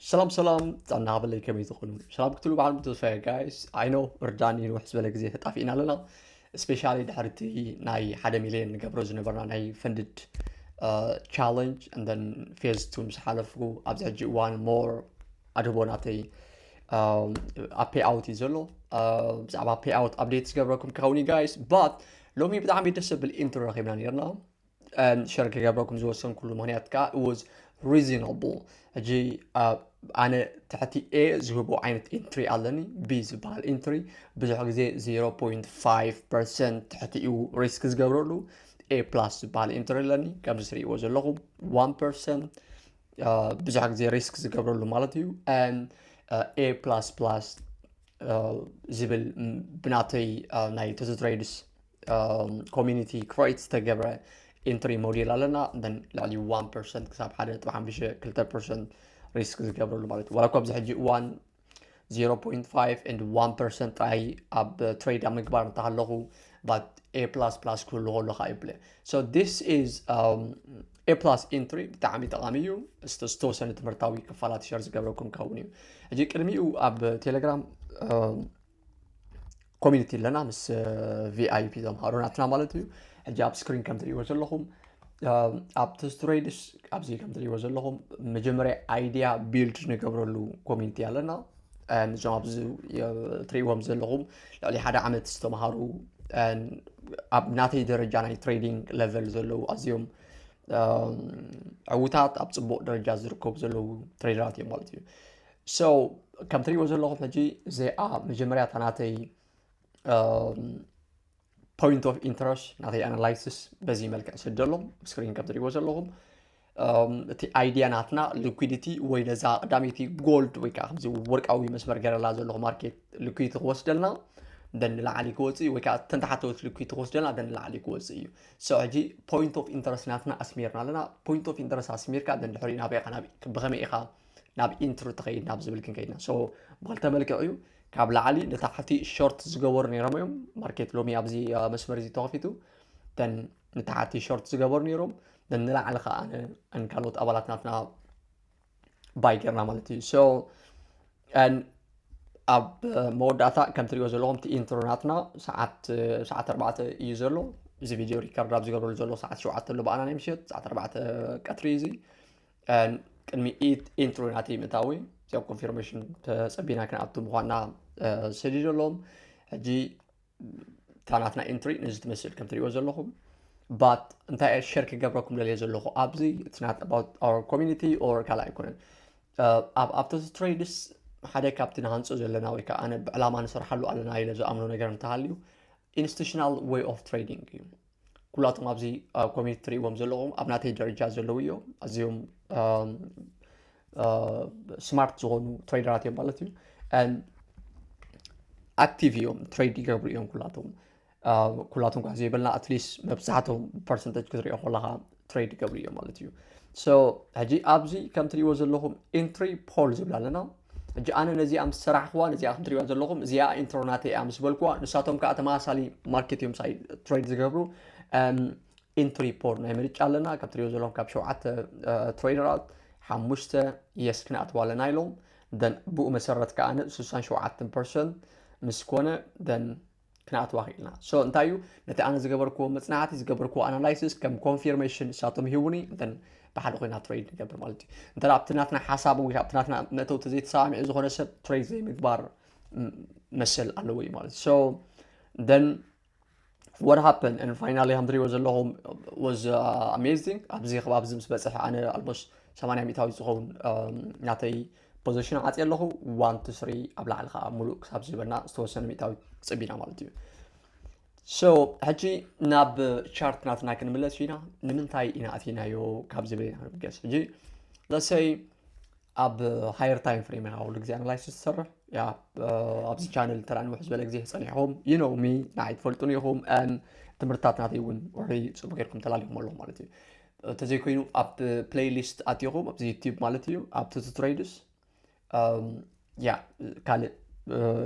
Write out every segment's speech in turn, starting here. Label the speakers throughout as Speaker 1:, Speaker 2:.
Speaker 1: ሰላም ሰላም ፃና በለይ ከመይ ዝኾኑ ሰላም ክትሉ በዓል ብተስፋ ጋይስ ዓይኖ እርዳኒ ንውሕ ዝበለ ግዜ ተጣፊእና ኣለና ስፔሻሊ ድሕሪ እቲ ናይ ሓደ ሚልዮን ንገብሮ ዝነበርና ናይ ፈንድድ ቻለንጅ እንደን ፌዝ ቱ ምስ ሓለፍኩ ኣብዚ ሕጂ እዋን ሞር ኣድህቦ ናተይ ኣብ ፔይ ኣውት እዩ ዘሎ ብዛዕባ ፔይ ኣውት ኣብዴት ዝገብረኩም ክኸውን እዩ ጋይስ ባት ሎሚ ብጣዕሚ ደስ ዘብል ኢንትሮ ረኺብና ነርና ሸር ክገብረኩም ዝወሰንኩሉ ምክንያት ከዓ ወዝ ሪዝናብል ሕጂ ኣነ ትሕቲ ኤ ዝህቦ ዓይነት ኢንትሪ ኣለኒ ቢ ዝበሃል ኢንትሪ ብዙሕ ግዜ 0.5 ፐርሰንት ትሕቲ እዩ ሪስክ ዝገብረሉ ኤ ፕላስ ዝበሃል ኢንትሪ ኣለኒ ከምዚ ትሪእዎ ዘለኹም 1 ፐርሰንት ብዙሕ ግዜ ሪስክ ዝገብረሉ ማለት እዩ ኤ ፕላስ ፕላስ ዝብል ብናተይ ናይ ተዘትረይድስ ኮሚኒቲ ክሬት ዝተገብረ ኢንትሪ ሞዴል ኣለና ን ልዕሊ 1 ፐርሰንት ክሳብ 1.52 ፐርሰንት ሪስክ ዝገብረሉ ማለት እዩ ዋላ እኳ ኣብዚ ሕጂ እዋን 0.5 and 1 ፐርሰንት ጥራይ ኣብ ትሬድ ኣብ ምግባር እንተሃለኹ ባት ኤ ፕላስ ፕላስ ክህሉ ከሎ ከዓ ይብለ ሶ ዲስ ኢዝ ኤ ፕላስ ኢንትሪ ብጣዕሚ ጠቃሚ እዩ ዝተወሰነ ትምህርታዊ ክፋላት ሸር ዝገብረኩም ከውን እዩ ሕጂ ቅድሚኡ ኣብ ቴሌግራም ኮሚኒቲ ኣለና ምስ ቪኣይፒ ዘምሃሩ ናትና ማለት እዩ ሕጂ ኣብ ስክሪን ከም ትሪእዎ ዘለኹም ኣብ ተስትሬድስ ኣብዚ ከም ትሪእዎ ዘለኹም መጀመርያ ኣይዲያ ቢልድ ንገብረሉ ኮሚኒቲ ኣለና ንዞም ኣብዚ ትሪእዎም ዘለኹም ልዕሊ ሓደ ዓመት ዝተምሃሩ ኣብ ናተይ ደረጃ ናይ ትሬዲንግ ለቨል ዘለዉ ኣዝዮም ዕውታት ኣብ ፅቡቅ ደረጃ ዝርከቡ ዘለዉ ትሬደራት እዮም ማለት እዩ So ከም ትሪእዎ ዘለኹም ሕጂ እዚኣ መጀመርያ እታ ናተይ ፖይንት ኦፍ ኢንተረስት ናተይ ኣናላይሲስ በዚ መልክዕ ስደሎ ስክሪን ከም ትሪእዎ ዘለኹም እቲ ኣይዲያ ናትና ሊኩዲቲ ወይ ነዛ ቀዳመይቲ ጎልድ ወይ ከዓ ከምዚ ወርቃዊ መስመር ገረላ ዘለኹ ማርኬት ሊኩዲቲ ክወስደልና ደን ንላዕሊ ክወፅእ እዩ ወይ ከዓ ተንተሓተወት ሊኩዲቲ ክወስደልና ደን ንላዕሊ ክወፅእ እዩ ሶ ሕጂ ፖይንት ኦፍ ኢንተረስት ናትና ኣስሚርና ኣለና ፖይንት ኦፍ ኢንተረስት ኣስሚርካ ደን ድሕሪኡ ናበይ ኢኻ ናብ ብኸመይ ኢኻ ናብ ኢንትሩ ተኸይድ ናብ ዝብል ክንከይድና ሶ ብክልተ መልክዕ እዩ ካብ ላዕሊ ንታሕቲ ሾርት ዝገበሩ ነይሮም እዮም ማርኬት ሎሚ ኣብዚ መስመር እዚ ተኸፊቱ ተን ንታሕቲ ሾርት ዝገበሩ ነይሮም ተን ንላዕሊ ከዓ ካልኦት ኣባላት ናትና ባይ ገርና ማለት እዩ ሶ ኣብ መወዳእታ ከም ትሪኦ ዘለኹም እቲ ኢንትሮ ናትና ሰዓት ሰዓት ኣርባዕተ እዩ ዘሎ እዚ ቪድዮ ሪከርድ ኣብ ዝገብረሉ ዘሎ ሰዓት ሸውዓተ ኣሎ ብኣና ናይ ምሸት ሰዓት ኣርባዕተ ቀትሪ እዩ እዚ ቅድሚ ኢንትሮ ናተይ ምእታወይ እዚኣ ኮንፊርሜሽን ተፀቢና ክንኣቱ ምኳና ሰዲዶ ኣለዎም ሕጂ እታ ናትና ኢንትሪ ነዚ ትመስል ከም ትሪእዎ ዘለኹም ባት እንታይ እየ ሸር ክገብረኩም ደልየ ዘለኹ ኣብዚ ትናት ኣባት ኣር ኮሚኒቲ ኦር ካልእ ኣይኮነን ኣብ ኣብቶስ ትሬድስ ሓደ ካብቲ ንሃንፆ ዘለና ወይ ከዓ ኣነ ብዕላማ ንሰርሓሉ ኣለና ኢለ ዝኣምኖ ነገር እንተሃልዩ ኢንስቲቱሽናል ወይ ኦፍ ትሬዲንግ እዩ ኩላቶም ኣብዚ ኣብ ኮሜንት ትሪእዎም ዘለኹም ኣብ ናተይ ደረጃ ዘለዉ እዮም ኣዝዮም ስማርት ዝኾኑ ትሬደራት እዮም ማለት እዩ ኣክቲቭ እዮም ትሬድ ይገብሩ እዮም ኩላቶም ኩላቶም ኳ ዘይበልና ኣትሊስት መብዛሕቶም ፐርሰንተጅ ክትሪኦ ከለካ ትሬድ ይገብሩ እዮም ማለት እዩ ሶ ሕጂ ኣብዚ ከም ትሪእዎ ዘለኹም ኢንትሪ ፖል ዝብላ ኣለና ሕጂ ኣነ ነዚኣ ምስ ሰራሕኽዋ ነዚኣ ከም ትሪእዋ ዘለኹም እዚኣ ኢንትሮ ናተይ እያ ምስ በልክዋ ንሳቶም ከዓ ተመሳሳሊ ማርኬት እዮም ሳይ ትሬድ ዝገብሩ ኢንትሪ ፖል ናይ ምርጫ ኣለና ካብ ትሪእዎ ዘለኹም ካብ ሸውዓተ ትሬደራት ሓሙሽተ የስ ክንኣትዋ ኣለና ኢሎም ደን ብኡ መሰረት ከዓ ን 67 ፐርሰንት ምስ ኮነ ደን ክንኣትዋ ክኢልና ሶ እንታይ እዩ ነቲ ኣነ ዝገበርክዎ መፅናዕቲ ዝገበርክዎ ኣናላይሲስ ከም ኮንፊርሜሽን ንሳቶም ይህቡኒ እንተን ብሓደ ኮይና ትሬድ ንገብር ማለት እዩ እንተ ኣብቲ ናትና ሓሳብ ወይ ኣብቲ ናትና መእተው ተዘይተሰማሚዑ ዝኾነ ሰብ ትሬድ ዘይምግባር መሰል ኣለዎ እዩ ማለት ሶ ደን what happened and finally ከም ትሪእዎ ዘለኹም was uh, amazing ኣብዚ ከባቢ እዚ ምስ በፅሐ ኣነ ኣልሞስት 80 ሚታዊ ዝኸውን ናተይ ፖዘሽን ዓፅየ ኣለኹ ዋን ቱ ስሪ ኣብ ላዕሊ ከዓ ሙሉእ ክሳብ ዝህበና ዝተወሰነ ሚእታዊ ክፅብ ኢና ማለት እዩ ሶ ሕጂ ናብ ቻርት ናትና ክንምለስ ኢና ንምንታይ ኢና ኣትናዮ ካብ ዝብል ኢና ክንብገስ ሕጂ ለሰይ ኣብ ሃየር ታይም ፍሬም ኢኻ ኩሉ ግዜ ኣናላይሲስ ትሰርሕ ያ ኣብዚ ቻነል ተራ ንውሕ ዝበለ ግዜ ፀኒሕኹም ይነውሚ ንዓይ ትፈልጡን ኢኹም ትምህርትታት ናተይ እውን ውሕሪ ፅቡቅ ጌርኩም ተላሊኹም ኣለኹም ማለት እዩ እንተዘይኮይኑ ኣብ ፕለይ ሊስት ኣትኹም ኣብዚ ዩቲብ ማለት እዩ ኣብ ቱቱ ትሬድስ ያ ካልእ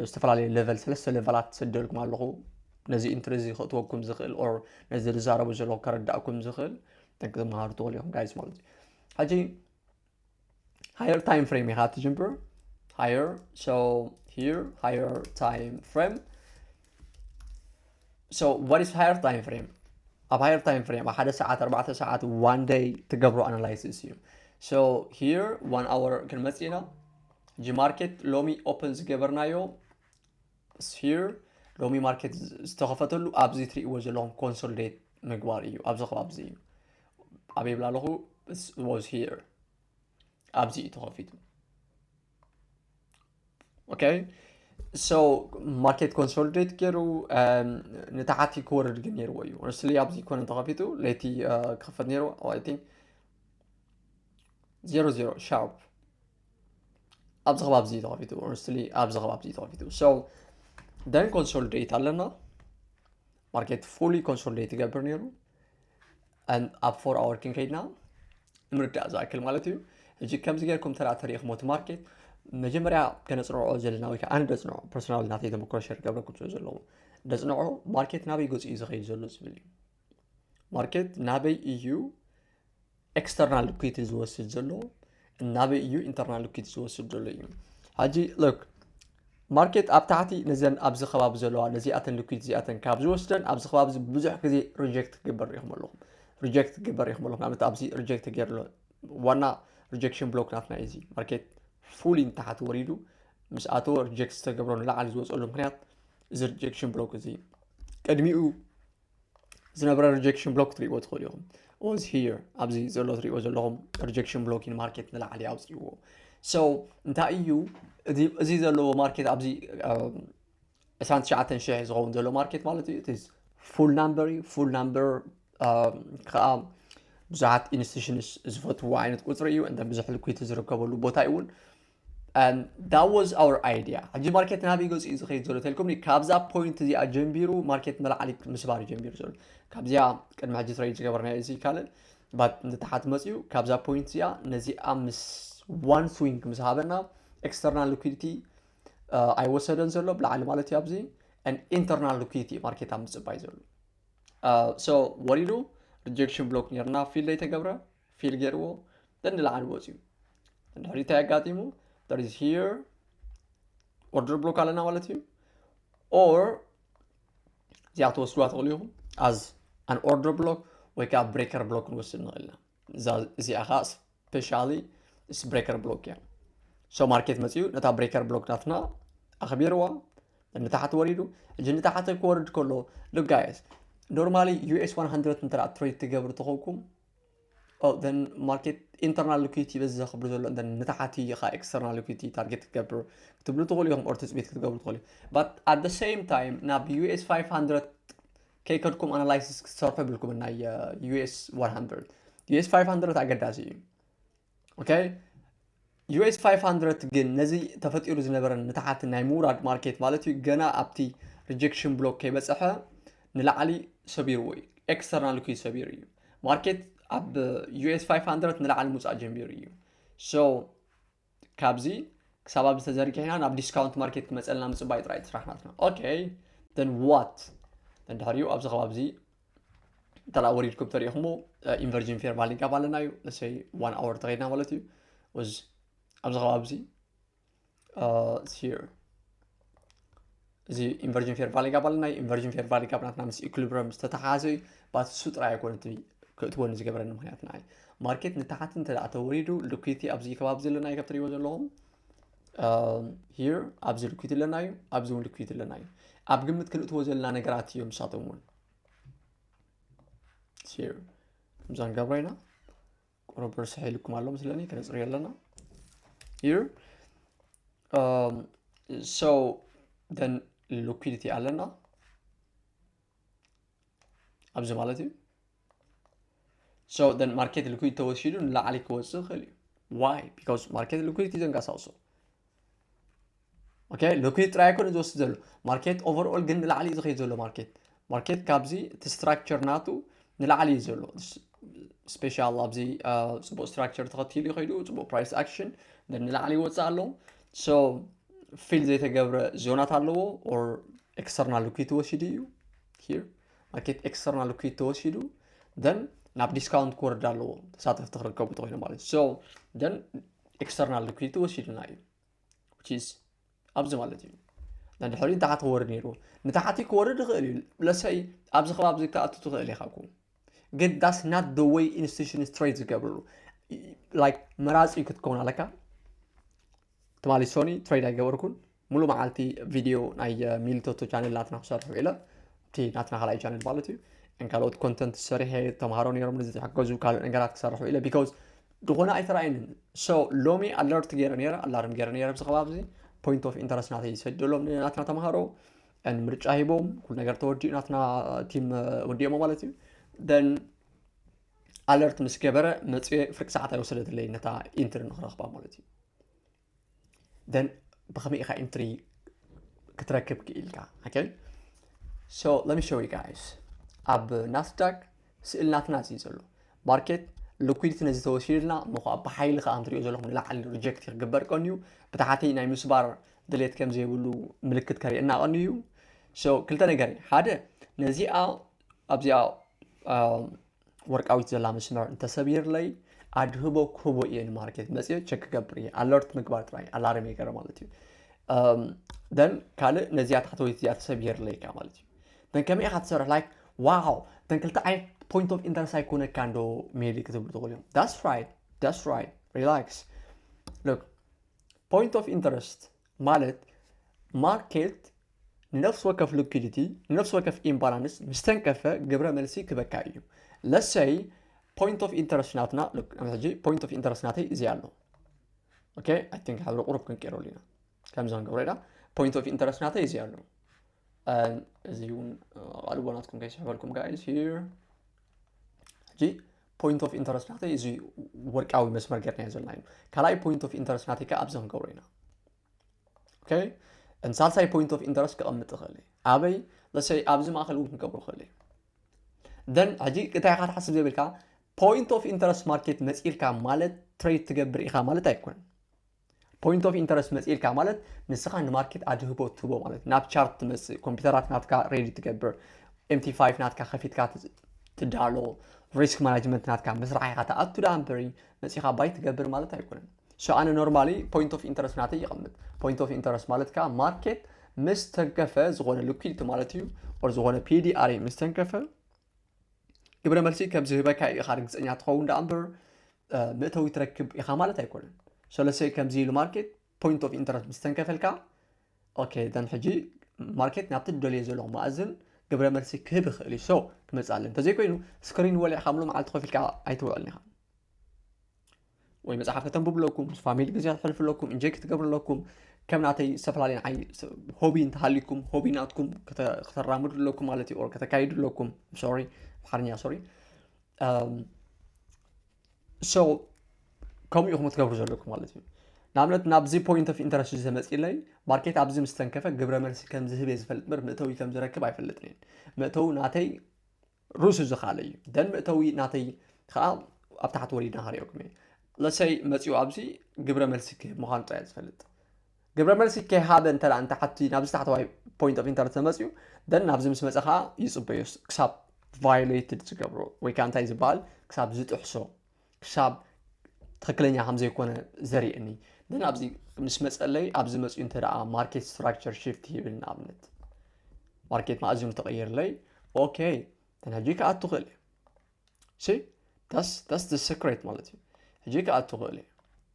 Speaker 1: ዝተፈላለዩ ሌቨል ሰለስተ ሌቨላት ሰደልኩም ኣለኹ ነዚ ኢንትሪ እዚ ክእትወኩም ዝኽእል ኦር ነዚ ዝዛረቡ ዘለኹ ከረዳእኩም ዝኽእል ተመሃሩ ትኽእሉ ኢኹም ጋይስ ማለት እዩ ሕጂ ሃየር ታይም ፍሬም ኢኻ ትጅምር ሃየር ሶ ሂር ሃየር ታይም ፍሬም ሶ ዋት ኢዝ ሃየር ታይም ፍሬም ኣብ ሃየር ታይም ፍሬም ኣብ ሓደ ሰዓት ኣርባዕተ ሰዓት ዋን ደይ ትገብሮ ኣናላይሲስ እዩ ሶ ሂር ዋን ኣወር ክንመፅእ ኢና ጂ ማርኬት ሎሚ ኦፕን ዝገበርናዮ ስፊር ሎሚ ማርኬት ዝተኸፈተሉ ኣብዚ ትርእይዎ ዘለኹም ኮንሶልዴት ምግባር እዩ ኣብዚ ከባቢ እዚ እዩ ኣበይ ብላ ኣለኹ was here ኣብዚ እዩ ተኸፊቱ ኦኬ ሶ ማርኬት ኮንሶልዴት ገይሩ ንታሓቲ ክወርድ ግን ነይርዎ እዩ ሆነስትሊ ኣብዚ ኮነ ተኸፊቱ ለይቲ ክኸፈት ነይሩ ኣይ ቲንክ ዜሮ ዜሮ ሻርፕ ኣብዚ ከባቢ እዚ ተኸፊቱ ኦነስትሊ ኣብዚ ከባቢ እዚ ተኸፊቱ ሶ ደን ኮንሶሊዴት ኣለና ማርኬት ፉሊ ኮንሶሊዴት ይገብር ነይሩ ኣብ ፎር ኣወር ክንከይድና ንምርዳእ ዝኣክል ማለት እዩ ሕጂ ከምዚ ጌርኩም ተራ ተሪእኹሞ እቲ ማርኬት መጀመርያ ከነፅንዖ ዘለና ወይ ከዓ ኣነ ደፅንዖ ፐርሶናል ናተይ ተመክሮ ሸር ገብረኩም ስለ ዘለዎ ደፅንዖ ማርኬት ናበይ ገፂ እዩ ዝኸይድ ዘሎ ዝብል እዩ ማርኬት ናበይ እዩ ኤክስተርናል ሊኩዊቲ ዝወስድ ዘሎ ናበይ እዩ ኢንተርናል ሊኩዊቲ ዝወስድ ዘሎ እዩ ሕጂ ሎክ ማርኬት ኣብ ታሕቲ ነዘን ኣብዚ ከባቢ ዘለዋ ነዚኣተን ሊኩዊድ እዚኣተን ካብ ዝወስደን ኣብዚ ከባቢ እዚ ብዙሕ ግዜ ሪጀክት ክግበር ኢኹም ኣለኹም ሪጀክት ክግበር ኢኹም ኣለኹም ንኣብነት ኣብዚ ሪጀክት ተገይሩ ኣሎ ዋና ሪጀክሽን ብሎክ ናትና እዩ እዚ ማርኬት ፉሊ ንታሕቲ ወሪዱ ምስ ኣተወ ሪጀክት ዝተገብሮ ንላዕሊ ዝወፀሉ ምክንያት እዚ ሪጀክሽን ብሎክ እዚ ቅድሚኡ ዝነበረ ሪጀክሽን ብሎክ ትሪእዎ ትኽእሉ ኢኹም ኦዝ ሂር ኣብዚ ዘሎ ትሪእዎ ዘለኹም ሪጀክሽን ብሎክ ኢን ማርኬት ንላዕሊ ኣውፅእዎ ሶ እንታይ እዩ እዚ ዘለዎ ማርኬት ኣብዚ 29 ሽሕ ዝኸውን ዘሎ ማርኬት ማለት እዩ እቲ ፉል ናምበር እዩ ፉል ናምበር ከዓ ብዙሓት ኢንስቲቱሽንስ ዝፈትዎ ዓይነት ቁፅሪ እዩ እንተ ብዙሕ ልኩይቲ ዝርከበሉ ቦታ እዩ እውን ዳት ዋዝ ኣወር ኣይድያ ሕጂ ማርኬት ናበይ ገጹ እዩ ዝኸይድ ዘሎ ተልኩምኒ ካብዛ ፖይንት እዚኣ ጀንቢሩ ማርኬት ንላዕሊ ምስባር እዩ ጀንቢሩ ዘሎ ካብዚኣ ቅድሚ ሕጂ ትረይድ ዝገበርና እዚ ካልእ ባት ንታሓት መፅዩ ካብዛ ፖይንት እዚኣ ነዚኣ ምስ ዋን ስዊንግ ምስ ሃበና ኤክስተርናል ሊኩዲቲ ኣይወሰደን ዘሎ ብላዕሊ ማለት እዩ ኣብዚ ኢንተርናል ሊኩዲቲ ማርኬት ኣብ ምፅባይ ዘሎ ሶ ወሪዱ ሪጀክሽን ብሎክ ነርና ፊልድ ኣይተገብረ ፊል ገይርዎ ንላዕሊ ወፅዩ ድሕሪ እንታይ ኣጋጢሙ there is here ኦርደር ብሎክ ኣለና ማለት እዩ ኦር እዚኣ ትወስድዋ ትኽእሉ ኢኹም ኣዝ ኣን ኦርደር ብሎክ ወይ ከዓ ብሬከር ብሎክ ክንወስድ ንኽእል ኢና እዛ እዚኣ ከዓ ስፔሻሊ ምስ ብሬከር ብሎክ እያ ሶ ማርኬት መፅኡ ነታ ብሬከር ብሎክ ናትና ኣኽቢርዋ ንታሕቲ ወሪዱ እዚ ንታሕቲ ክወርድ ከሎ ሉጋየስ ኖርማሊ ዩኤስ 100 እንተ ትሬድ ትገብሩ ተኾንኩም ን ማርኬት ኢንተርናል ሊኩዲቲ በዚ ዘኽብር ዘሎ ን ንታሓቲ ኢኻ ኤክስተርናል ሊኩዲቲ ታርጌት ክትገብር ክትብሉ ትኽእሉ ኢኹም ኦር ትፅቢት ክትገብሩ ትኽእሉ ባት ኣት ደ ሴም ታይም ናብ ዩኤስ 500 ከይከድኩም ኣናላይሲስ ክትሰርሑ የብልኩምን ናይ ዩኤስ 100 ዩኤስ 500 ኣገዳሲ እዩ ዩኤስ 500 ግን ነዚ ተፈጢሩ ዝነበረ ምትሓት ናይ ምውራድ ማርኬት ማለት እዩ ገና ኣብቲ ሪጀክሽን ብሎክ ከይበፅሐ ንላዕሊ ሰቢርዎ እዩ ኤክስተርናል ኩ ሰቢሩ እዩ ማርኬት ኣብ ዩኤስ 500 ንላዕሊ ምውፃእ ጀሚሩ እዩ ሶ ካብዚ ክሳብ ኣብዚ ተዘርጊሕና ናብ ዲስካውንት ማርኬት ክመፀልና ምፅባይ ጥራይ ስራሕናትና ኦኬ ደን ዋት ደን ድሕሪኡ ኣብዚ ከባቢ እዚ እንተ ወሪድኩም ተሪኢኹሞ ኢንቨርጂን ፌርማሊ ጋብ ኣለና እዩ ለሰይ ዋን ኣወር ተኸድና ማለት እዩ ወዝ ኣብዚ ከባቢ እዚ እዚ ኢንቨርጂን ፌርቫሊ ጋብ ኣለና እዩ ኢንቨርጂን ፌርቫሊ ጋብ ናትና ምስ ኢኩሊብረም ዝተተሓሓዘ እዩ ባት እሱ ጥራይ ኣይኮነ እቲ ክእትወኒ ዝገበረኒ ምክንያት ንዓይ ማርኬት ንታሓቲ እንተ ተወሪዱ ልኩይቲ ኣብዚ ከባቢ ዘለና እዩ ከብ ትሪእዎ ዘለኹም ሂር ኣብዚ ልኩት ኣለና እዩ ኣብዚ እውን ልኩት ኣለና እዩ ኣብ ግምት ክንእትዎ ዘለና ነገራት እዮም ንሳቶም እውን ሂር ከምዛ ንገብሮ ኢና ቁሩብ ርስሐ ኢልኩም ኣሎ ምስለኒ ክነፅርዮ ኣለና ሂር ሶ ደን ልኩዲቲ ኣለና ኣብዚ ማለት እዩ ሶ ደን ማርኬት ሊኩድ ተወሲዱ ንላዕሊ ክወፅእ ይኽእል እዩ ዋይ ቢካዝ ማርኬት ሊኩድ እዩ ዘንቀሳቕሶ ኦኬ ሊኩድ ጥራይ ኣይኮነ ዝወስድ ዘሎ ማርኬት ኦቨርኦል ግን ንላዕሊ እዩ ዝኸይድ ዘሎ ማርኬት ማርኬት ካብዚ እቲ ስትራክቸር ናቱ ንላዕሊ እዩ ዘሎ ስፔሻል ኣብዚ ፅቡቅ ስትራክቸር ተኸቲሉ ይኸይዱ ፅቡቅ ፕራይስ ኣክሽን ንላዕሊ ይወፅእ ኣሎ ሶ ፊል ዘይተገብረ ዞናት ኣለዎ ኦር ኤክስተርናል ሊኩዊድ ተወሲዱ እዩ ሂር ማርኬት ኤክስተርናል ሊኩዊድ ተወሲዱ ደን ናብ ዲስካውንት ክወርድ ኣለዎ ተሳተፍቲ ክርከቡ ተኮይኑ ማለት ሶ ደን ኤክስተርናል ሊኩዊድ ተወሲዱና እዩ ቺዝ ኣብዚ ማለት እዩ ንድሕሪ ንታሕቲ ክወርድ ነይሩ ንታሕቲ ክወርድ ይኽእል እዩ ለሰይ ኣብዚ ከባቢ ዝከኣቱ ትኽእል ኢኻ ኩ ግን ዳስ ናት ደ ወይ ኢንስቲቱሽን ስትሬት ዝገብርሉ ላይክ መራፂ ክትከውን ኣለካ ትማሊ ሶኒ ትሬድ ኣይገበርኩን ሙሉ መዓልቲ ቪድዮ ናይ ሚልቶቶ ቻነል ናትና ክሰርሑ ኢለ እቲ ናትና ካልኣይ ቻነል ማለት እዩ ን ካልኦት ኮንተንት ሰሪሐ ተምሃሮ ነሮም ንዝተሓገዙ ካልእ ነገራት ክሰርሑ ኢለ ቢካዝ ዝኾነ ኣይተረኣየንን ሶ ሎሚ ኣለርት ገይረ ነረ ኣላርም ገይረ ነረ ኣብዚ ከባቢ እዚ ፖይንት ኦፍ ኢንተረስት ናተይ ሰደሎም ናትና ተምሃሮ ን ምርጫ ሂቦም ኩሉ ነገር ተወዲኡ ናትና ቲም ወዲኦሞ ማለት እዩ ደን ኣለርት ምስ ገበረ መፅዮ ፍርቂ ሰዓት ኣይወሰደትለይ ነታ ኢንትሪ ንክረኽባ ማለት እዩ ደን ብኸመይ ኢኻ ኢንትሪ ክትረክብ ክኢልካ ኦኬ ሶ let me show you guys ኣብ ናስዳክ ስእሊ ናትና እዩ ዘሎ ማርኬት ልኩዲቲ ነዚ ተወሲድልና እሞ ከዓ ብሓይሊ ከዓ እንትሪኦ ዘለኹም ንላዕሊ ሪጀክት ክግበር ቀን እዩ ብታሕቲ ናይ ምስባር ድሌት ከም ዘይብሉ ምልክት ከርእየና ቀን እዩ ሶ ክልተ ነገር እዩ ሓደ ነዚኣ ኣብዚኣ ወርቃዊት ዘላ መስመር እንተሰቢርለይ ኣድህቦ ክህቦ እየ ንማርኬት መፅኦ ቸክ ክገብር እየ ኣለርት ምግባር ጥራይ ኣላርም የገረ ማለት እዩ ደን ካልእ ነዚኣ ታሕተወይቲ እዚኣ ተሰቢርለይ እካ ማለት እዩ ደን ከመይ ኢካ ትሰርሕ ላይክ ዋው ደን ክልተ ዓይነት ፖይንት ኦፍ ኢንተረስት ኣይኮነካ እንዶ ሜሊ ክትብሉ ትኽእሉ እዮም ዳስ ራይት ዳስ ራይት ሪላክስ ሎክ ፖይንት ኦፍ ኢንተረስት ማለት ማርኬት ንነፍሲ ወከፍ ሉኪዲቲ ንነፍሲ ወከፍ ኢምባላንስ ምስተንከፈ ግብረ መልሲ ክበካ እዩ ለሰይ ፖይንት ኦፍ ኢንተረስት ናትና ሕጂ ፖይንት ኦፍ ኢንተረስት ናተይ እዚ ኣሎ ኦኬ ኣይ ቲንክ ሓደ ቁሩብ ክንቀይረሉ ኢና ከምዚ ክንገብሮ ኢና ፖይንት ኦፍ ኢንተረስት ናተይ እዚ ኣሎ እዚ እውን ቃልቦ ናትኩም ከይስሕበልኩም ጋይስ ሂር ሕጂ ፖይንት ኦፍ ኢንተረስት ናተይ እዚ ወርቃዊ መስመር ገርና ዘለና እዩ ካልኣይ ፖይንት ኦፍ ኢንተረስት ናተይ ከዓ ኣብዚ ክንገብሮ ኢና ሳልሳይ ፖይንት ኦፍ ኢንተረስት ክቐምጥ ይኽእል እዩ ኣበይ ለሰይ ኣብዚ ማእኸል እውን ክገብሮ ይኽእል እዩ ደን ሕጂ እንታይ ኢኻ ትሓስብ ዘይብልካ ፖይንት ኦፍ ኢንተረስት ማርኬት መፂልካ ማለት ትሬድ ትገብር ኢኻ ማለት ኣይኮነን ፖይንት ኦፍ ኢንተረስት መፂልካ ማለት ንስኻ ንማርኬት ኣድህቦ ትህቦ ማለት ናብ ቻርት ትመፅእ ኮምፒውተራት ናትካ ሬዲ ትገብር ኤምቲ ፋይቭ ናትካ ከፊትካ ትዳሎ ሪስክ ማናጅመንት ናትካ ምስራሕ ኢኻ ትኣቱ ዳኣ እምበሪ መፂኻ ባይ ትገብር ማለት ኣይኮነን ሶ ኣነ ኖርማሊ ፖይንት ኦፍ ኢንተረስት ናተይ ይቐምጥ ፖይንት ኦፍ ኢንተረስት ማለት ከዓ ማርኬት ምስ ተንከፈ ዝኾነ ልኩይቲ ማለት እዩ ኦር ዝኾነ ፒዲኣሪ ምስ ተንከፈ ግብረ መልሲ ከም ዝህበካ ኢኻ ርግፀኛ ትኸውን ዳኣ እምበር መእተዊ ትረክብ ኢኻ ማለት ኣይኮነን ሰለሰይ ከምዚ ኢሉ ማርኬት ፖይንት ኦፍ ኢንተረስት ምስ ተንከፈልካ ኦኬ ደን ሕጂ ማርኬት ናብቲ ደልዮ ዘለኹ ማእዝን ግብረ መልሲ ክህብ ይኽእል እዩ ሶ ክመፅእ ኣለ እንተዘይኮይኑ ስክሪን ወሊዕካ ምሉ መዓልቲ ኮፍ ኢልካ ኣይትውዕልን ኢኻ ወይ መጽሓፍ ከተንብቡ ኣለኩም ምስ ፋሚሊ ግዜ ክትሕልፉ ኣለኩም እንጆይ ክትገብሩ ኣለኩም ከም ናተይ ዝተፈላለየ ንዓይ ሆቢ እንተሃሊኩም ሆቢ ናትኩም ከተራምዱ ኣለኩም ማለት እዩ ከተካይዱ ኣለኩም ሶሪ ኣምሓርኛ ሶሪ ሶ ከምኡ ኢኹም ክትገብሩ ዘለኩም ማለት እዩ ንኣብነት ናብዚ ፖይንት ኦፍ ኢንተረስት ዘመፅለይ ማርኬት ኣብዚ ምስተንከፈ ግብረ መልሲ ከም ዝህብ እየ ዝፈልጥ በር መእተዊ ከም ዝረክብ ኣይፈልጥን እየን መእተዊ ናተይ ሩሱ ዝካለ እዩ ደን ምእተዊ ናተይ ከዓ ኣብ ታሕቲ ወሪድና ክሪኦኩም እየ ለሰይ መፂኡ ኣብዚ ግብረ መልሲ ክህብ ምዃኑ ጥራይ ዝፈልጥ ግብረ መልሲ ከይሃበ እንተ እንተ ሓቲ ናብዚ ታሕተዋይ ፖይንት ኦፍ ኢንተርት ተመፅኡ ደን ናብዚ ምስ መፀ ከዓ ይፅበዮስ ክሳብ ቫዮሌትድ ዝገብሮ ወይ ከዓ እንታይ ዝበሃል ክሳብ ዝጥሕሶ ክሳብ ትክክለኛ ከምዘይኮነ ዘርእየኒ ን ኣብዚ ምስ መፀለይ ኣብዚ መፅኡ እንተ ማርኬት ስትራክቸር ሽፍት ይብል ንኣብነት ማርኬት ማእዝኑ ተቐይርለይ ኦኬ ተናጂ ክኣቱ ክእል እዩ ሲ ዳስ ዳስ ደ ሰክሬት ማለት እዩ ሕጂ ክኣቱ ክእል እዩ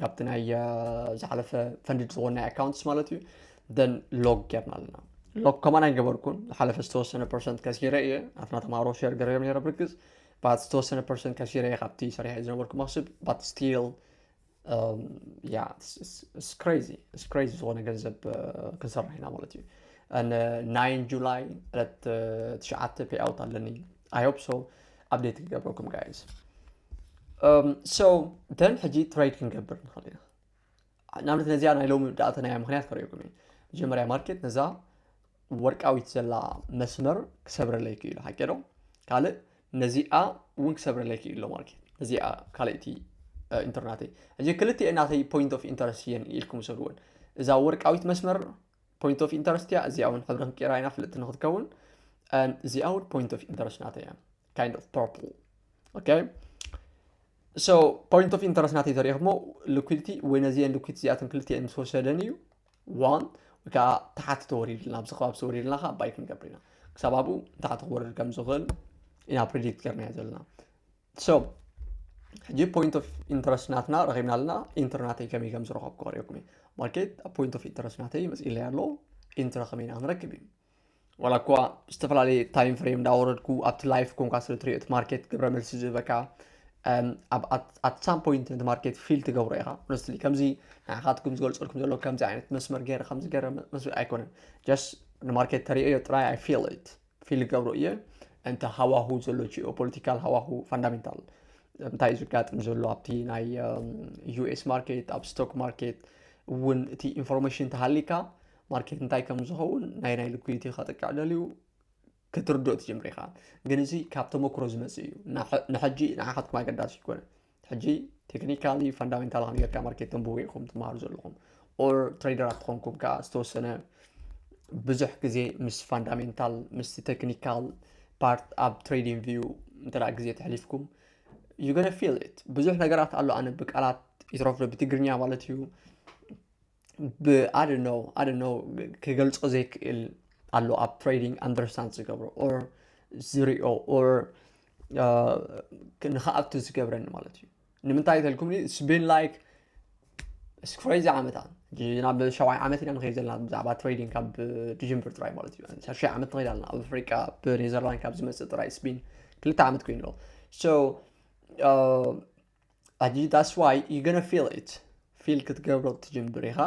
Speaker 1: ካብቲ ናይ ዝሓለፈ ፈንድድ ዝኾን ናይ ኣካውንትስ ማለት እዩ ደን ሎግ ጌርና ኣለና ሎግ ከማን ኣይገበርኩን ዝሓለፈ ዝተወሰነ ፐርሰንት ከሲረ እየ ኣትና ተማሃሮ ሸር ገረም ነረ ብርግፅ ባት ዝተወሰነ ፐርሰንት ከሲረ እየ ካብቲ ሰሪሐ ዝነበርኩ መክስብ ባት ስቲል ያ ስክሬዚ ስክሬዚ ዝኾነ ገንዘብ ክንሰርሕ ኢና ማለት እዩ ናይን ጁላይ ዕለት ትሽዓተ ፔኣውት ኣለኒ ኣይሆፕ ሶ ኣብዴት ክገብረኩም ጋይዝ ሶ ደን ሕጂ ትሬድ ክንገብር ንኽእል ኢና ንኣብነት ነዚኣ ናይ ሎሚ ዳእተናያ ምክንያት ከሪኦኩም እዩ መጀመርያ ማርኬት ነዛ ወርቃዊት ዘላ መስመር ክሰብረለይ ክኢሉ ሓቂ ዶ ካልእ ነዚኣ እውን ክሰብረለይ ክኢሎ ማርኬት ነዚኣ ካልእቲ ኢንተርናተይ ሕጂ ክልቲኤ ናተይ ፖይንት ኦፍ ኢንተረስት እየን ኢልኩም ሰድወን እዛ ወርቃዊት መስመር ፖይንት ኦፍ ኢንተረስት እያ እዚኣ እውን ሕብሪ ክንቀይራ ኢና ፍልጥቲ ንክትከውን እዚኣ እውን ፖይንት ኦፍ ኢንተረስት ናተ እያ ካይንድ ኦፍ ፐርፕል ኦኬ ሶ ፖይንት ኦፍ ኢንተረስት ናተይ ተሪኢኹሞ ሊኩዲቲ ወይ ነዚአን ሊኩዲቲ እዚኣተን ክልቲአን ምስ ወሰደን እዩ ዋን ወይ ከዓ ተሓቲ ተወሪድልና ኣብዚ ከባቢ ተወሪድልና ከዓ ባይ ክንገብር ኢና ክሳብ ኣብኡ ንታሕቲ ክወርድ ከም ዝኽእል ኢና ፕሬዲክት ገርናዮ ዘለና So ሕጂ ፖይንት ኦፍ ኢንተረስት ናትና ረኺብና ኣለና ኢንትር ናተይ ከመይ ከም ዝረኸብኩ ክሪኦኩም እዩ ማርኬት ኣብ ፖይንት ኦፍ ኢንተረስት ናተይ መፅኢለይ ኣሎ ኢንትር ከመይ ኢና ክንረክብ እዩ ዋላ እኳ ዝተፈላለየ ታይም ፍሬም እንዳወረድኩ ኣብቲ ላይፍ ኮንካ ስለ ትሪኦ እቲ ማርኬት ግብረ መልሲ ዝህበካ ኣብ ሳም ፖይንት ነቲ ማርኬት ፊል ትገብሮ ኢኻ ሆነስትሊ ከምዚ ንዓኻትኩም ዝገልፀልኩም ዘሎ ከምዚ ዓይነት መስመር ገይረ ከምዚ ገይረ መስመር ኣይኮነን ጀስት ንማርኬት ተሪኦዮ ጥራይ ኣይ ፊል ኢት ፊል ገብሮ እየ እንተ ሃዋሁ ዘሎ ጂኦ ፖለቲካል ሃዋሁ ፋንዳሜንታል እንታይ እዩ ዝጋጥም ዘሎ ኣብቲ ናይ ዩኤስ ማርኬት ኣብ ስቶክ ማርኬት እውን እቲ ኢንፎርሜሽን ተሃሊካ ማርኬት እንታይ ከም ዝኸውን ናይ ናይ ልኩይቲ ከጥቅዕ ደልዩ ክትርድኦ ትጀምር ኢኻ ግን እዚ ካብ ተመክሮ ዝመፅእ እዩ ንሕጂ ንዓኻትኩም ኣገዳሲ ይኮነ ሕጂ ቴክኒካሊ ፋንዳሜንታል ኣሜሪካ ማርኬት ተንብቡ ኢኹም ትመሃሩ ዘለኹም ኦር ትሬደራት ትኾንኩም ከዓ ዝተወሰነ ብዙሕ ግዜ ምስ ፋንዳሜንታል ምስ ቴክኒካል ፓርት ኣብ ትሬዲንግ ቪዩ እንተ ግዜ ተሕሊፍኩም ዩ ገነ ፊል ኢት ብዙሕ ነገራት ኣሎ ኣነ ብቃላት ይትረፍዶ ብትግርኛ ማለት እዩ ብኣደኖ ኣደኖ ክገልፆ ዘይክእል ኣሎ ኣብ ትሬዲንግ ኣንደርስታንድ ዝገብሮ ኦር ዝሪኦ ኦር ንክኣቱ ዝገብረኒ ማለት እዩ ንምንታይ ተልኩም ስቢን ላይክ ስክሬዚ ዓመታት ናብ ሸውዓይ ዓመት ኢና ንኸይድ ዘለና ብዛዕባ ትሬዲንግ ካብ ድጅንብር ጥራይ ማለት እዩ ሸርሸይ ዓመት ንኸይድ ኣለና ኣብ ኣፍሪቃ ብኔዘርላንድ ካብ ዝመፅእ ጥራይ ስቢን ክልተ ዓመት ኮይኑ ኣሎ ኣጂ ዳስ ዋይ ዩ ገነ ፊል ኢት ፊል ክትገብሮ ትጅምር ኢኻ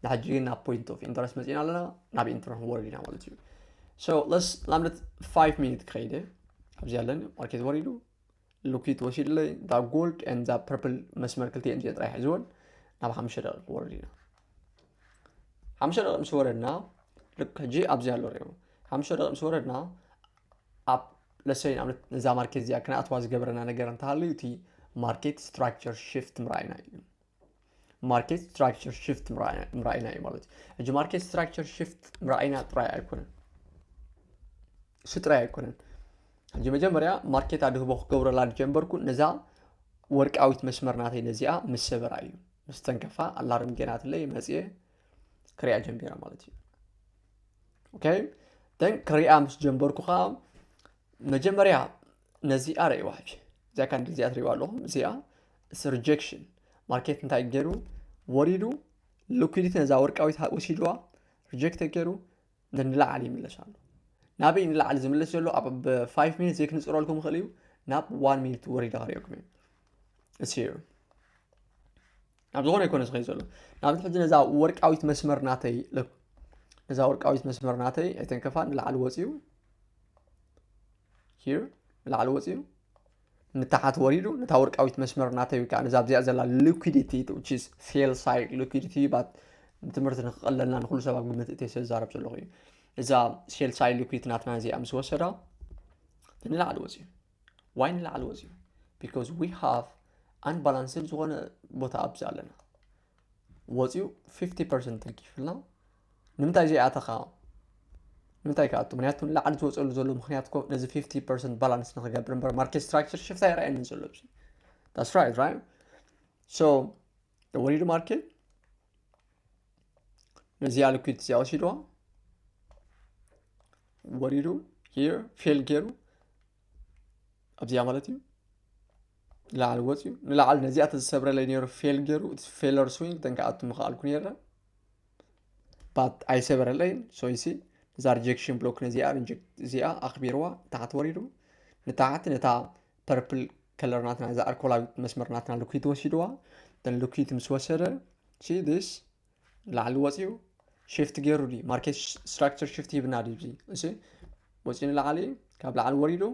Speaker 1: ንሕጂ ግን ናብ ፖይንት ኦፍ ኢንተረስት መፂና ኣለና ናብ ኢንተረስት ወርድ ኢና ማለት እዩ ሶ ለስ ንኣብነት 5 ሚኒት ክኸይደ ኣብዚ ኣለኒ ማርኬት ወሪዱ ልኩት ወሲድለይ እዛ ጎልድ ን እዛ ፐርፕል መስመር ክልቲኤን እዚኦ ጥራይ ሕዝወን ናብ ሓምሽተ ደቂ ክወርድ ኢና ሓምሽተ ደቂ ምስ ወረድና ልክ ሕጂ ኣብዚ ኣሎ ሪኦ ሓምሽተ ደቂ ምስ ወረድና ኣብ ለሰይ ንኣብነት ነዛ ማርኬት እዚኣ ክንኣትዋ ዝገበረና ነገር እንተሃልዩ እቲ ማርኬት ስትራክቸር ሽፍት ምርኣይና እዩ ማርኬት ስትራክቸር ሽፍት ምርኣይና እዩ ማለት እዩ ሕጂ ማርኬት ስትራክቸር ሽፍት ምርኣይና ጥራይ ኣይኮነን እሱ ጥራይ ኣይኮነን ሕጂ መጀመርያ ማርኬት ኣድህቦ ክገብረላ ጀንበርኩ ነዛ ወርቃዊት መስመር ናተይ ነዚኣ ምስ ሰበራ እዩ ምስ ተንከፋ ኣላርም ጌናትለይ መፅየ ክሪኣ ጀሚራ ማለት እዩ ኦኬ ደን ክሪኣ ምስ ጀንበርኩ ከዓ መጀመርያ ነዚኣ ርእዋ ሕጂ እዚኣ ካን እዚኣ ትርእዋ ኣለኹም እዚኣ እስ ሪጀክሽን ማርኬት እንታይ ገይሩ ወሪዱ ሊኩዲቲ ነዛ ወርቃዊት ወሲድዋ ሪጀክት ገይሩ ንላዕሊ ይምለስ ኣሎ ናበይ ንላዕሊ ዝምለስ ዘሎ ኣብ ብ5 ሚኒት ዘይክንፅረልኩም ይኽእል እዩ ናብ 1 ሚኒት ወሪዳ ክሪኦኩም እዩ It's here. ናብ ዝኾነ ይኮነ ዝኸይ ዘሎ ናብዚ ሕጂ ነዛ ወርቃዊት መስመር ናተይ ለኩ ነዛ ወርቃዊት መስመር ናተይ ኣይተንከፋ ንላዕሊ ወፅዩ ሂር ንላዕሊ ወፅዩ ንታሓት ወሪዱ ነታ ወርቃዊት መስመር ናተይ ወይ ከዓ ነዛ ኣብዚኣ ዘላ ሊኩዲቲ ስ ሴል ሳይድ ሊኩዲቲ ባት ንትምህርቲ ንክቐለልና ንኩሉ ሰብ ኣብ ግምት እተይ ስለዛረብ ዘለኹ እዩ እዛ ሴል ሳይድ ሊኩዲቲ ናትና እዚኣ ምስ ወሰዳ ንላዕሊ ወፅዩ ዋይ ንላዕሊ ወፂኡ ቢካዝ ዊ ሃቭ ኣንባላንስድ ዝኾነ ቦታ ኣብዚ ኣለና ወፂኡ 50 ፐርሰንት ተርኪፍልና ንምንታይ ዘይኣተኻ ንምንታይ ከኣቱ ምክንያቱ ንላዕሊ ዝወፀሉ ዘሎ ምክንያት ኮ ነዚ 50 ፐርሰንት ባላንስ ንክገብር እምበር ማርኬት ስትራክቸር ሽፍታ ይረኣየኒ ዘሎ ብዚ ዳስ ራይት ራይት ሶ ወሪዱ ማርኬት ነዚኣ ልኩት እዚኣ ወሲድዋ ወሪዱ ሂር ፌል ገይሩ ኣብዚኣ ማለት እዩ ንላዕሊ ወፅዩ ንላዕሊ ነዚኣ ተዝሰብረለይ ነይሩ ፌል ገይሩ ፌለር ስዊንግ ተንከኣቱ ምኽኣልኩ ነይረ ባት ኣይሰበረለይን ሶይሲ እዛ ሪጀክሽን ብሎክ ነዚኣ እዚኣ ኣኽቢርዋ ታሕቲ ወሪዱ ንታሕቲ ነታ ፐርፕል ከለር ናትና እዛ ኣልኮላዊት መስመር ናትና ልኩት ወሲድዋ ልኩት ምስ ወሰደ ስ ላዕሊ ወፅኡ ሽፍት ገይሩ ዩ ማርኬት ስትራክቸር ሽፍት ሂብና ዩ እዚ ወፅኡ ንላዕሊ ካብ ላዕሊ ወሪዱ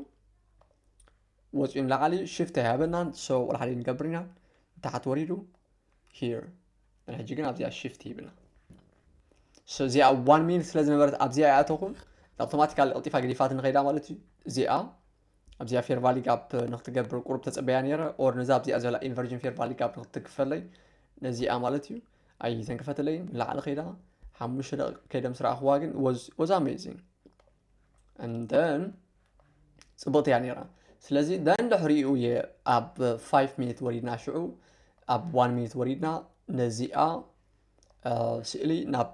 Speaker 1: ወፅኡ ንላዕሊ ሽፍት ኣይሃበናን ሰው ቁልሓሊ ንገብር ኢና ንታሓት ወሪዱ ሂር ሕጂ ግን ኣብዚኣ ሽፍት ሂብና እዚኣ ዋን ሚኒት ስለ ዝነበረት ኣብዚኣ ይኣተኹም ኣውቶማቲካሊ ቀልጢፋ ገዲፋት ንኸይዳ ማለት እዩ እዚኣ ኣብዚኣ ፌር ቫሊ ጋፕ ንክትገብር ቁሩብ ተፀበያ ነይረ ኦር ነዛ ኣብዚኣ ዘላ ኢንቨርጅን ፌር ቫሊ ጋፕ ንክትክፈለይ ነዚኣ ማለት እዩ ኣይ ተንክፈትለይ ንላዕሊ ከይዳ ሓሙሽተ ደቂቅ ከይደም ስረኣኽዋ ግን ወዝ ኣሜዚንግ እንደን ፅብቕቲ እያ ነይራ ስለዚ ደን ድሕሪኡ እየ ኣብ 5 ሚኒት ወሪድና ሽዑ ኣብ 1 ሚኒት ወሪድና ነዚኣ ስእሊ ናብ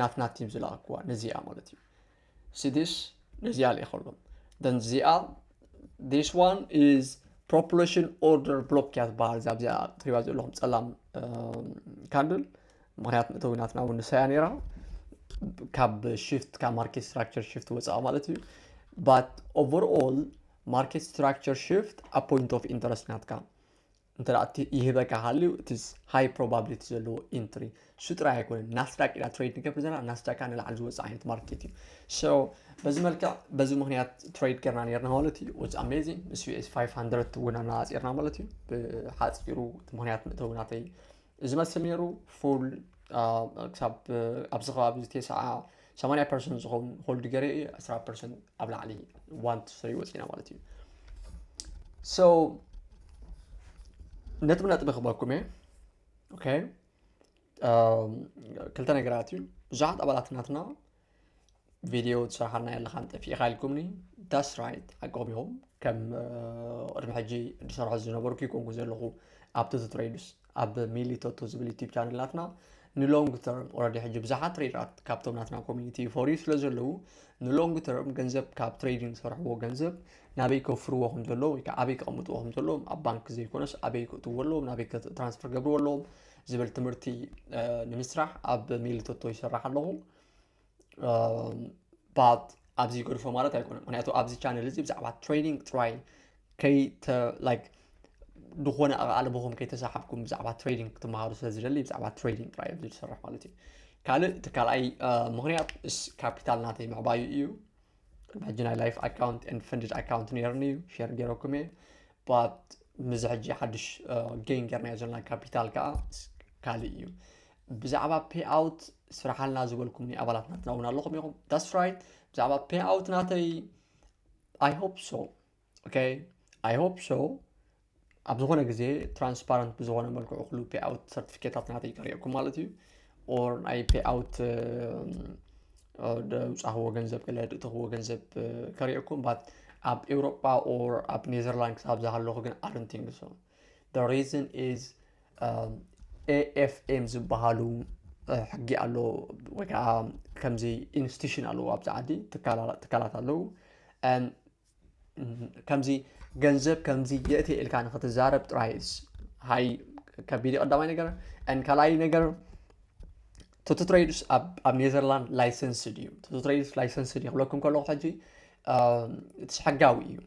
Speaker 1: ናትና ቲም ዝለኣክዋ ነዚኣ ማለት እዩ ሲዲስ ነዚኣ ልኢኸሎም ደን እዚኣ ዲስ ዋን ኢዝ ፕሮፖሌሽን ኦርደር ብሎክ እያ ዝበሃል እዛ ብዚኣ ትሪባ ዘለኹም ፀላም ካንድል ምክንያት መእተዊ ናትና እውን ንሳያ ነይራ ካብ ሽፍት ካብ ማርኬት ስትራክቸር ሽፍት ወፃኣ ማለት እዩ ባት ኦቨርኦል ማርኬት ስትራክቸር ሽፍት ኣብ ፖይንት ኦፍ ኢንተረስት ናትካ እንተ እቲ ይህበካ ሃልዩ እቲ ሃይ ፕሮባብሊቲ ዘለዎ ኢንትሪ እሱ ጥራይ ኣይኮነን ናስዳቅ ኢና ትሬድ ንገብር ዘለና ናስዳቅ ከዓ ንላዕሊ ዝወፅእ ዓይነት ማርኬት እዩ ሶ በዚ መልክዕ በዚ ምክንያት ትሬድ ገርና ነርና ማለት እዩ ወፅ ኣሜዚንግ ምስ ዩኤስ 500 እውን ኣነፃፂርና ማለት እዩ ብሓፂሩ ምክንያት ምእተው ናተይ እዚ መስል ነይሩ ፉል ክሳብ ኣብዚ ከባቢ ቴስዓ ሰማንያ ፐርሰንት ዝኸውን ሆልድ ገሬ እዩ ዕስራ ፐርሰንት ኣብ ላዕሊ ዋንት ፍሪ ወፂና ማለት እዩ ሶ ነጥቢ ነጥቢ ክበኩም እየ ኦኬ ክልተ ነገራት እዩ ብዙሓት ኣባላት ናትና ቪድዮ ትሰርሓልና ኣለካ ጠፊእካ ኢልኩምኒ ዳስ ራይት ሓቆም ኢኹም ከም ቅድሚ ሕጂ ዝሰርሖ ዝነበርኩ ይኮንኩ ዘለኹ ኣብቲ ትትረይዱስ ኣብ ሚሊ ቶቶ ዝብል ዩቲብ ቻነል ናትና ንሎንግ ተርም ኦረዲ ሕጂ ብዙሓት ትሬደራት ካብቶም ናትና ኮሚኒቲ ይፈርዩ ስለ ዘለዉ ንሎንግ ተርም ገንዘብ ካብ ትሬዲንግ ዝሰርሕዎ ገንዘብ ናበይ ከፍርዎ ከም ዘለዎ ወይ ከዓ ኣበይ ከቐምጥዎ ከም ዘለዎም ኣብ ባንክ ዘይኮነስ ኣበይ ክእትዎ ኣለዎም ናበይ ትራንስፈር ገብርዎ ኣለዎም ዝብል ትምህርቲ ንምስራሕ ኣብ ሚሊ ቶቶ ይሰራሕ ኣለኹ ኣብዚ ገድፎ ማለት ኣይኮነን ምክንያቱ ኣብዚ ቻነል እዚ ብዛዕባ ትሬኒንግ ጥራይ ከይተ ላይክ ዝኾነ ኣቓልቦኹም ከይተሰሓብኩም ብዛዕባ ትሬዲንግ ክትመሃሩ ስለ ዝደሊ ብዛዕባ ትሬዲንግ ጥራይ ኣብዚ ዝሰርሕ ማለት እዩ ካልእ እቲ ካልኣይ ምክንያት እስ ካፒታል ናተይ ምዕባዩ እዩ ሕጂ ናይ ላይፍ ኣካውንት ን ፈንድድ ኣካውንት ነይርኒ እዩ ሸር ገይረኩም እየ ባት ምዚ ሕጂ ሓድሽ ጌን ገርናዮ ዘለና ካፒታል ከዓ ካልእ እዩ ብዛዕባ ፔይ ኣውት ስራሓልና ዝበልኩምኒ ኣባላት ናትና እውን ኣለኹም ኢኹም ዳስ ራይት ብዛዕባ ፔይ ኣውት ናተይ ኣይ ሆፕ ሶ ኦኬ ኣይ ሆፕ ሶ ኣብ ዝኾነ ግዜ ትራንስፓረንት ብዝኾነ መልክዑ ክሉ ፔይ ኣውት ሰርቲፊኬታት ናተይ ቀሪኦኩም ማለት እዩ ኦር ናይ ፔይ ኣውት ደውፃኽዎ ገንዘብ ገለ ድእተኽዎ ገንዘብ ከሪኦኩም ባት ኣብ ኤውሮጳ ኦር ኣብ ኔዘርላንድ ክሳብ ዝሃለኹ ግን ኣረንቲንግ ሶ the reason is um, AFM ዝበሃሉ ሕጊ ኣሎ ወይ ከዓ ከምዚ ኢንስቲቱሽን ኣለዎ ኣብዚ ዓዲ ትካላት ኣለዉ ከምዚ ገንዘብ ከምዚ የእቲ ኢልካ ንክትዛረብ ጥራይ ሃይ ከቢድ ቀዳማይ ነገር ን ካልኣይ ነገር ቶቶ ትሬድስ ኣብ ኔዘርላንድ ላይሰንስ ድዩ ቶቶ ትሬድስ ላይሰንስ ድዩ ክብለኩም ከለኩ ሕጂ እቲ ሕጋዊ እዩ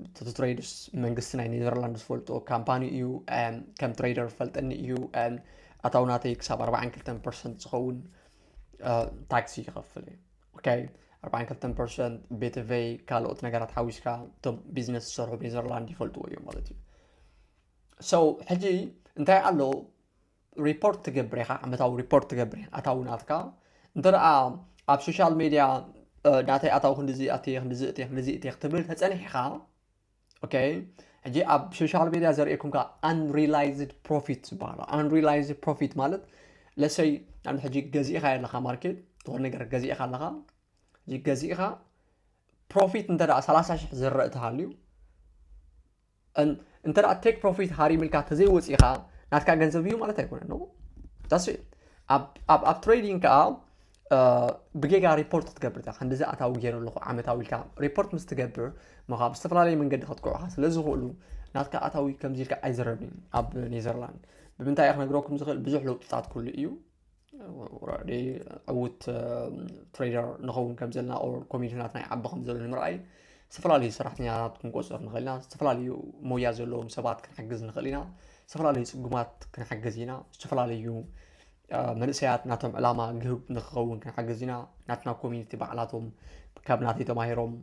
Speaker 1: እቲ ትሬድስ መንግስቲ ናይ ኔዘርላንድ ዝፈልጦ ካምፓኒ እዩ ከም ትሬደር ፈልጠኒ እዩ ኣታው ናተይ ክሳብ 42 ፐርሰንት ዝኸውን ታክሲ ይኸፍል እዩ ኦኬ 42 ፐርሰንት ቤተቨይ ካልኦት ነገራት ሓዊስካ እቶም ቢዝነስ ዝሰርሑ ኔዘርላንድ ይፈልጥዎ እዮም ማለት እዩ ሰው ሕጂ እንታይ ኣሎ ሪፖርት ትገብር ኢኻ ዓመታዊ ሪፖርት ትገብር ኣታዊ ናትካ እንተ ኣብ ሶሻል ሜድያ ናተይ ኣታዊ ክንዲዚ ኣትየ ክንዲዚ እትየ ክንዲዚ እትየ ክትብል ተፀኒሕኻ ኦኬ ሕጂ ኣብ ሶሻል ሜድያ ዘርእየኩም ከ ኣንሪላይዝድ ፕሮፊት ዝበሃሉ ኣንሪላይዝድ ፕሮፊት ማለት ለሰይ ናብ ሕጂ ገዚእኻ ኣለኻ ማርኬት ዝኾነ ነገር ገዚእኻ ኣለኻ ገዚእኻ ፕሮፊት እንተ ሰላሳ ሽሕ ዝረእ ተሃልዩ እንተ ቴክ ፕሮፊት ሃሪምልካ ተዘይወፂእኻ ናትካ ገንዘብ እዩ ማለት ኣይኮነን ነው ዳስ ኣብ ትሬዲንግ ከዓ ብጌጋ ሪፖርት ክትገብር እዛ ክንዲዚ ኣታዊ ገይሩ ኣለኹ ዓመታዊ ኢልካ ሪፖርት ምስ ትገብር ምኻ ብዝተፈላለየ መንገዲ ከጥቅዑካ ስለ ዝኽእሉ ናትካ ኣታዊ ከምዚ ኢልካ ኣይዝረብን ኣብ ኔዘርላንድ ብምንታይ ክነግረኩም ዝኽእል ብዙሕ ለውጥታት ኩሉ እዩ ወራዲ ዕውት ትሬደር ንኸውን ከም ዘለና ኮሚኒቲናት ናይ ዓቢ ከም ዘሎ ንምርኣይ ዝተፈላለዩ ሰራሕተኛታት ክንቆፅር ንኽእል ኢና ዝተፈላለዩ ሞያ ዘለዎም ሰባት ክንሓግዝ ንኽእል ኢና ዝተፈላለዩ ፅጉማት ክንሓግዝ ኢና ዝተፈላለዩ መንእሰያት ናቶም ዕላማ ግህብ ንክኸውን ክንሓግዝ ኢና ናትና ኮሚኒቲ ባዕላቶም ካብ ናተይ ተማሂሮም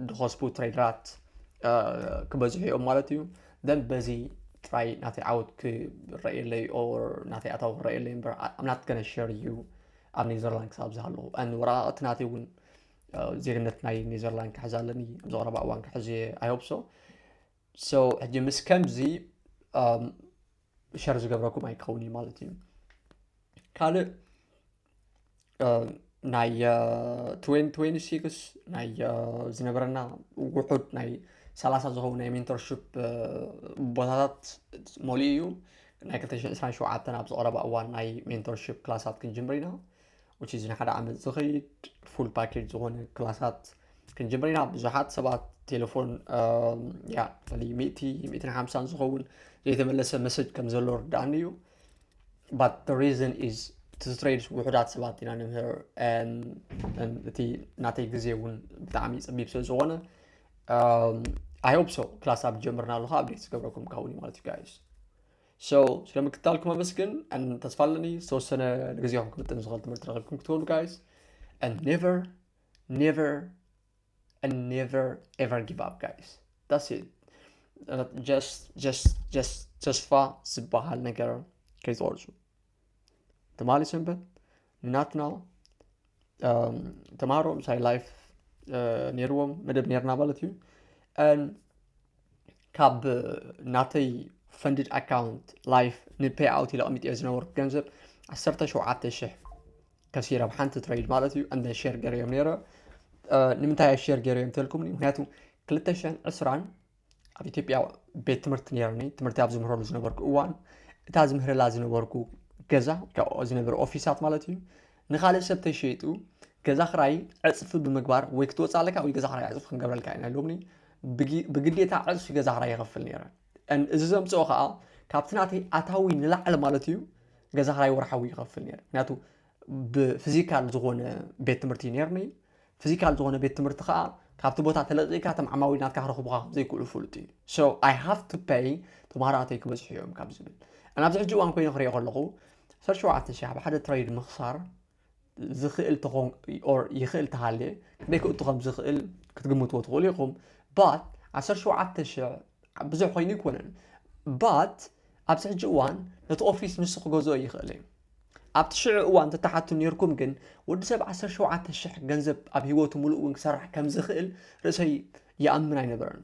Speaker 1: ዝኸስቡ ትሬደራት ክበዝሑ እዮም ማለት እዩ then በዚ ጥራይ ናተይ ዓወት ክረእየለይ ኦር ናተይ ኣታዊ ክረእየለይ እምበር I'm not gonna share you ኣብ ኔዘርላንድ ክሳብ ዝሃለኹ and ወረቓቕቲ ናተይ እውን ዜግነት ናይ ኔዘርላንድ ክሕዝ ኣለኒ ኣብዚ ቀረባ እዋን ክሕዝ እየ I hope so so ሕጂ ምስ ከምዚ ሸር ዝገብረኩም ኣይከውን እዩ ማለት እዩ ካልእ ናይ 2026 ናይ ዝነበረና ውሑድ ናይ ሰላሳ ዝኸውን ናይ ሜንቶርሽፕ ቦታታት መሊኡ እዩ ናይ 227 ናብ ዝቐረባ እዋን ናይ ሜንቶርሽፕ ክላሳት ክንጅምር ኢና ውጭ እዚ ንሓደ ዓመት ዝኸይድ ፉል ፓኬጅ ዝኾነ ክላሳት ክንጅምር ኢና ብዙሓት ሰባት ቴሌፎን ያ ሚእቲ ሚእትን ሓምሳን ዝኸውን ዘይተመለሰ መሰጅ ከም ዘሎ ርዳእኒ እዩ but the reason is to trade ውሑዳት ሰባት ኢና ንምህር እቲ ናተይ ግዜ እውን ብጣዕሚ ፀቢብ ስለ ዝኾነ ኣይ ሆፕ ሶ ክላስ ኣብ ጀምርና ኣለካ ኣብዴት ዝገብረኩም ካውን ማለት እዩ ጋይስ ሶ ስለ ምክትታልኩም ኣመስግን ተስፋ ኣለኒ ዝተወሰነ ንግዜኹም ክምጥን ዝኽእል ትምህርቲ ረኪብኩም ክትኮኑ ጋይስ and never never and never ever give up guys that's it uh, just just just ተስፋ ዝበሃል ነገር ከይትቆርፁ ተማሊ ሰንበት ናትና um, ተማሃሮ ምሳይ ላይፍ uh, ነይርዎም መደብ ነርና ማለት እዩ ካብ ናተይ ፈንድድ ኣካውንት ላይፍ ንፔይ ኣውት ኢለ ቀሚጥ ዝነበርኩ ገንዘብ 17 ሽሕ ከሲሮም ሓንቲ ትሬድ ማለት እዩ እንደ ሼር ገርዮም ነይረ ንምንታይ ኣብ ሼር ገርዮም ተልኩምኒ ምክንያቱ 220 ኣብ ኢትዮጵያ ቤት ትምህርቲ ነርኒ ትምህርቲ ኣብ ዝምህረሉ ዝነበርኩ እዋን እታ ዝምህረላ ዝነበርኩ ገዛ ዝነበረ ኦፊሳት ማለት እዩ ንካልእ ሰብ ተሸይጡ ገዛ ክራይ ዕፅፊ ብምግባር ወይ ክትወፅእ ኣለካ ወይ ገዛ ክራይ ዕፅፊ ክንገብረልካ ኢና ኢሎምኒ ብግዴታ ዕፅፊ ገዛ ክራይ ይኸፍል ነይረ እዚ ዘምፅኦ ከዓ ካብቲ ናተይ ኣታዊ ንላዕሊ ማለት እዩ ገዛ ክራይ ወርሓዊ ይኸፍል ነይረ ምክንያቱ ብፊዚካል ዝኾነ ቤት ትምህርቲ እዩ ነርኒ ፊዚካል ዝኾነ ቤት ትምህርቲ ከዓ ካብቲ ቦታ ተለቂካ እቶም ዓማዊል ናትካ ክረኽቡካ ዘይክእሉ ፍሉጥ እዩ ሶ ኣይ ሃቭ ቱ ፐይ ተምሃሮኣተይ ክበዝሑ እዮም ካብ ዝብል ናብዚ ሕጂ እዋን ኮይኑ ክሪኦ ከለኹ ዓሰርተ ሸውዓተ ሸሕ ብሓደ ትሬድ ምኽሳር ዝኽእል ተኾን ኦር ይኽእል ተሃልየ ክንደይ ክእቱ ከም ዝኽእል ክትግምትዎ ትኽእሉ ኢኹም ባት 17000 ብዙሕ ኮይኑ ኣይኮነን ባት ኣብዚ ሕጂ እዋን ነቲ ኦፊስ ንሱ ክገዝኦ ይኽእል እዩ ኣብቲ ሽዑ እዋን ተተሓቱ ነርኩም ግን ወዲ ሰብ 17000 ገንዘብ ኣብ ሂወቱ ሙሉእ እውን ክሰርሕ ከም ዝኽእል ርእሰይ ይኣምን ኣይነበረን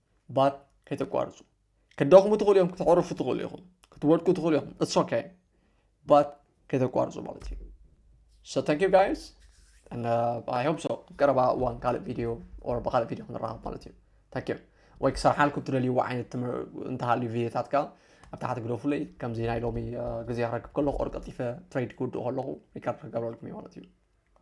Speaker 1: ባት ከይተቋርፁ ክትደኽሙ ትኽእሉ እዮም ክተዕርፉ ትኽእሉ ኢኹም ክትወድቁ ትኽእሉ ኢኹም እትስ ኦኬ ባት ከይተቋርፁ ማለት እዩ ሶ ታንክ ዩ ጋይስ ኣይ ሆፕ ሶ ቀረባ እዋን ካልእ ቪድዮ ኦር ብካልእ ቪድዮ ክንራኸብ ማለት እዩ ታንክ ዩ ወይ ክሰርሓልኩም ትደልይዎ ዓይነት ትምህር እንተሃልዩ ቪድዮታት ከዓ ኣብ ታሕቲ ግደፉለይ ከምዚ ናይ ሎሚ ግዜ ክረክብ ከለኹ ኦር ቀልጢፈ ትሬድ ክውድእ ከለኹ ሪካርድ ክገብረልኩም እዩ ማለት እዩ